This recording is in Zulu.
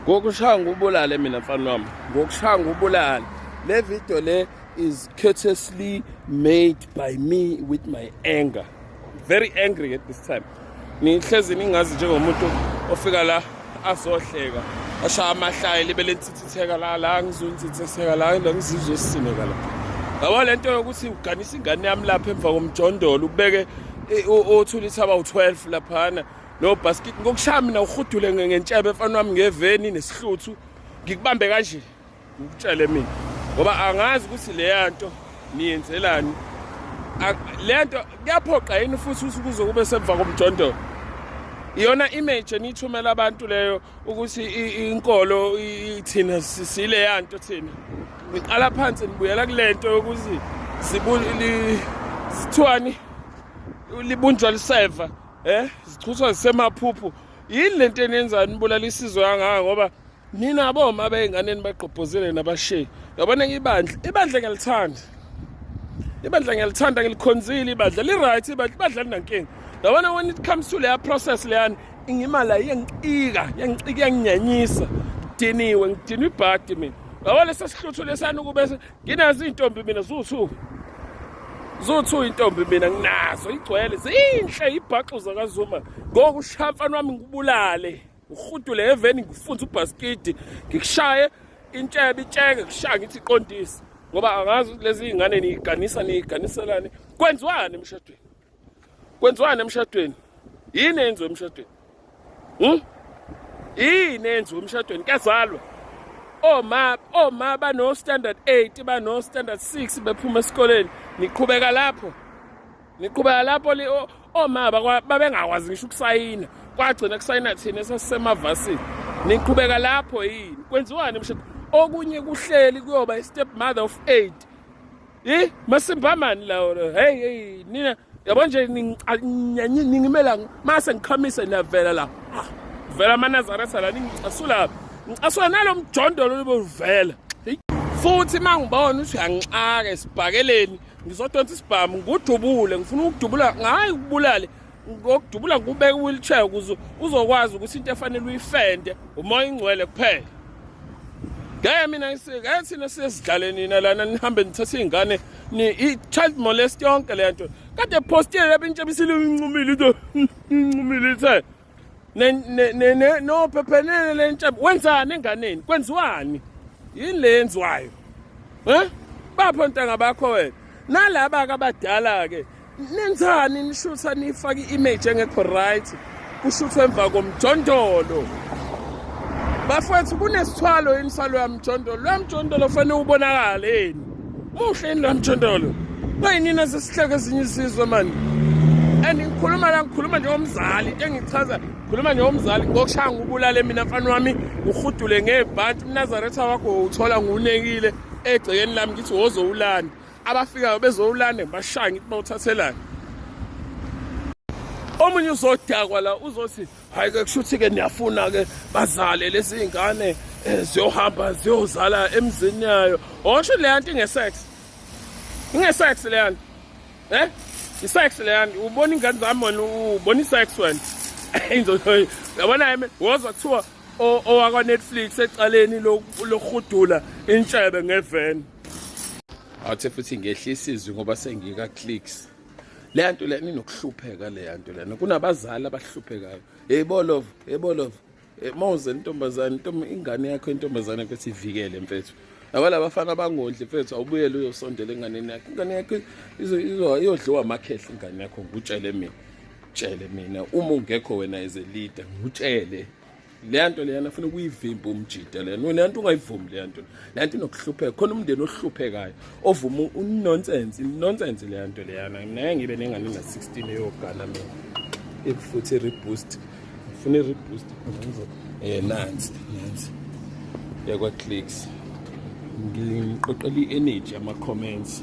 ngokushaya ngubulale mina mfana wami ngokushaya ngubulale le video le is courteously made by me with my anger very angry at this time nihlezi ningazi njengomuntu ofika la azohleka ashaya amahlaya libe lenthithitheka la la ngizonthithitheka la la ngizizosineka la yabo le nto yokuthi uganisa ingane yami lapha emva komjondolo ubeke othula ithaba u-12 laphana No basket ngokushaya mina uhudule ngentshebe mfana wami ngeveni nesihluthu ngikubambe kanje ngikutshele mina ngoba angazi ukuthi leya nto niyenzelani le nto kuyaphoqa yini futhi usukuze kube semva komjondolo iyona image eniyithumela abantu leyo ukuthi inkolo ithina sileya nto thina ngiqala phansi nibuyela kule nto yokuthi sithiwani libunjwa liseva eh zichuthwa zisemaphuphu yini lento enenzani nibulala isizwe kangaka ngoba nina boma beyinganeni bagqobhozele nabasheyi yabona ibandla ibandla ngiyalithanda ibandla ngiyalithanda ngilikhonzile ibandla li-right ibandla ibandla linankinga yabona when it comes to leya process leyani ingimala iyangicika yangicika yanginyanyisa ngidiniwe ngidinwe ibhadi mina yabona sesihluthu lesani ukube nginazo iy'ntombi mina zuwu-two zuwu-two intombi mina nginazo igcwele zinhle ibhaxu zakazuma ngoku ushaya mfana wami ngikubulale ngihudule eveni ngifunze ubhasikidi ngikushaye intshebe itsheke kushaya ngithi iqondise ngoba angazi lezi iy'ngane niyiganisa niyiganiselani kwenziwani emshadweni kwenziwani emshadweni yini eyenziwe emshadweni hm yini eyenziwe emshadweni kuyazalwa oma oma bano standard 8 bano standard 6 bephuma esikoleni niqhubeka lapho niqhubeka lapho oma babengakwazi ngisho ukusayina kwagcina kusayina thina esasisemavasini niqhubeka lapho yini kwenziwani emshadweni okunye kuhleli kuyoba i-step mother of eight Hey masimbamani lawo hey hey nina yabo nje ningimela mase ngikhamise niyavela la vela amanazaresa la ningicasula ngicasula nalo mjondolo lobuvela futhi uma ngibona ukuthi uyangixaka esibhakeleni ngizodonsa isibhamu ngudubule ngifuna ukudubula ngayi kubulale ngokudubula ngikubeka i-wheelchair ukuze uzokwazi ukuthi into efanele uyifende umoya ingcwele kuphela ngeke mina ngeke thina sizidlale nina lana nihambe nithathe iy'ngane i-child molest yonke le nto kade postile lapho intsha bisile incumile into incumile ithe nophephenene le ntsha wenzani enganeni kwenziwani yini le yenziwayo um bapho ntanga bakho wena nalaba-ke abadala-ke nenzani nishutha nifake i-image engekho right kushuthwe emva komjondolo bafowethu kunesithwalo yini salo yamjondolo lo yamjondolo fanele ubonakale yini muhle yini lo yamjondolo bayinini esesihleke ezinye isizwe mani and ngikhuluma la ngikhuluma njengomzali into engichaza ngikhuluma njengomzali ngokushaya ngubulale mina mfana wami ngihudule ngebhanti umnazaretha wakho uthola ngiwunekile egcekeni lami ngithi wozowulanda abafikayo bezowulanda ngibashaya ngithi bawuthathelani omunye uzodakwa la uzothi hayi ke kushuthi ke niyafuna ke bazale lezi zingane eh, ziyohamba ziyozala emzini yayo washo leya nto ingesex ingesex leya nto eh isex leya nto ubona ingane zami wena ubona isex wena inzoyo yabona yimi wozwa kuthiwa owakwa Netflix ecaleni lokhudula intshebe ngeveni athe futhi ngehlisa izwi ngoba sengika clicks leya nto lena inokuhlupheka leya nto lena kunabazali abahluphekayo hey bolov hey bolov eh, mawuze intombazane ingane yakho intombazane yakho sivikele mfethu nakwalabafana abangondli mfethu awubuyele uyosondela enganeni yakho ingane yakho iyodliwa amakhehla ingane yakho ngikutshele mina tshele mina uma ungekho wena as a leader ngitshele leya nto leyana funa ukuyivimba umjida leyana wena nto ungayivumi leya nto leya nto inokuhlupheka khona umndeni ohluphekayo ovuma unonsense inonsense leya nto leyana mina ngeke ngibe nengane na-16 eyogana mina ekufuthi i-reboost ngifuna i-reboost um eh, nansi nansi yakwa-clicks ngiqoqela i-energy ama-comments